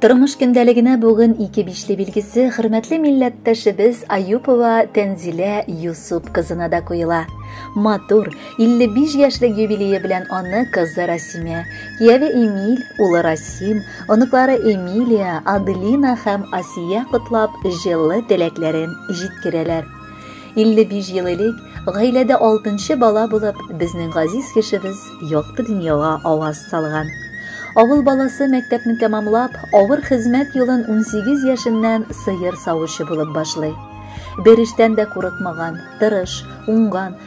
Тормыш көндәлегенә бүген ике бишле билгесе хөрмәтле милләттәшебез Аюпова Тәнзилә Юсуп кызына да куела. Матур, 55 яшьлек юбилее белән аны кызы Расимә, кияве Эмиль, улы Расим, оныклары Эмилия, Аделина һәм Асия котлап, җылы теләкләрен җиткерәләр. 55 ел элек гаиләдә 6 бала булып, безнең газиз кешебез якты дөньяга аваз салган. Авыл баласы мәктәпне тәмамлап, авыр хезмәт юлын 18 яшеннән сыер савучы булып башлый. Бер эштән дә курыкмаган, тырыш, уңган,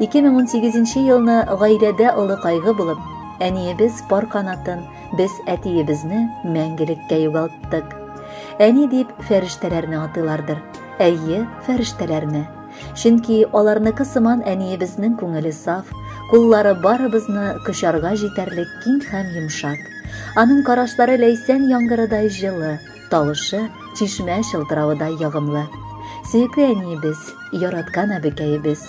2018 елны гаиләдә олы кайгы булып, әниебез пар канатын, без әтиебезне мәңгелеккә югалттык. Әни дип фәрештәләрне атыйлардыр. Әйе, фәрештәләрне. Чөнки аларныкы сыман әниебезнең күңеле саф, куллары барыбызны кочарга җитәрлек киң һәм йомшак. Аның карашлары ләйсән яңгырыдай җылы, тавышы чишмә чылтыравыдай ягымлы. Сөекле әниебез, яраткан әбекәебез.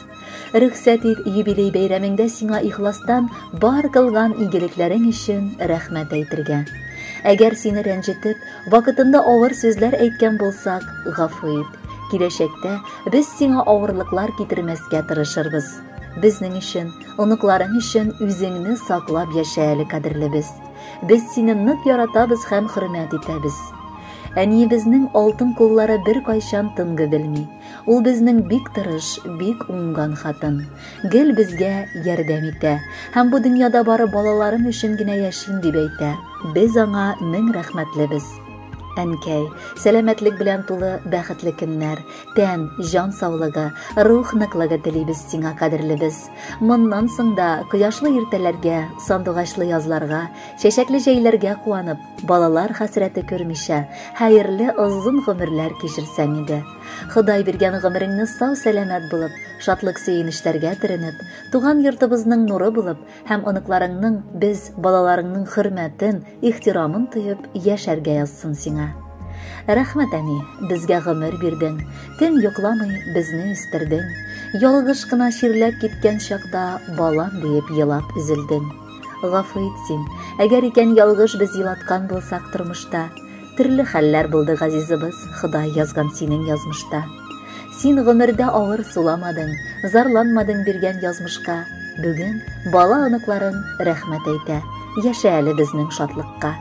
Рөхсәт ит, юбилей бәйрәмеңдә сиңа ихластан бар кылган игелекләрең өчен рәхмәт әйтергә. Әгәр сине рәнҗетеп, вакытында авыр сүзләр әйткән булсак, гафу ит. Киләчәктә без сиңа авырлыклар китермәскә тырышырбыз. Безнең өчен, оныкларың өчен үзеңне саклап яшә әле, кадерлебез. Без сине нык яратабыз һәм хөрмәт итәбез. Әниебезнең алтын куллары беркайчан тынгы белми. Ул безнең бик тырыш, бик уңган хатын. Гел безгә ярдәм итә. Һәм бу дөньяда бары балаларым өчен генә яшим дип әйтә. Без аңа мең рәхмәтлебез. Әнкәй, сәламәтлек белән тулы бәхетле көннәр, тән, җан саулыгы, рух ныклыгы телибез сиңа, кадерлебез. Моннан соң да кояшлы иртәләргә, сандугачлы язларга, чәчәкле җәйләргә куанып, Балалар хәсрәте күрмичә, хәерле озын гомерләр кичерсәң иде. Ходай биргән гомереңне сау-сәламәт булып, шатлык-сөенечләргә төренеп, туган йортыбызның нуры булып һәм оныкларыңның, без, балаларыңның хөрмәтен, ихтирамын тоеп яшәргә язсын сиңа. Рәхмәт, әни, безгә гомер бирдең, төн йокламый безне үстердең. Ялгыш кына чирләп киткән чакта балам диеп елап өзелдең. Гафу ит син, әгәр икән ялгыш без елаткан булсак тормышта. Төрле хәлләр булды газизыбыз, Ходай язган синең язмышта. Син гомердә авыр суламадың, зарланмадың биргән язмышка. Бүген бала оныкларың рәхмәт әйтә, яшә әле безнең шатлыкка.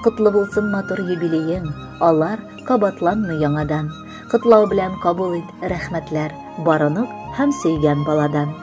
Котлы булсын матур юбилеең, алар кабатланмый яңадан. Котлау белән кабул ит рәхмәтләр, барынып һәм сөйгән баладан.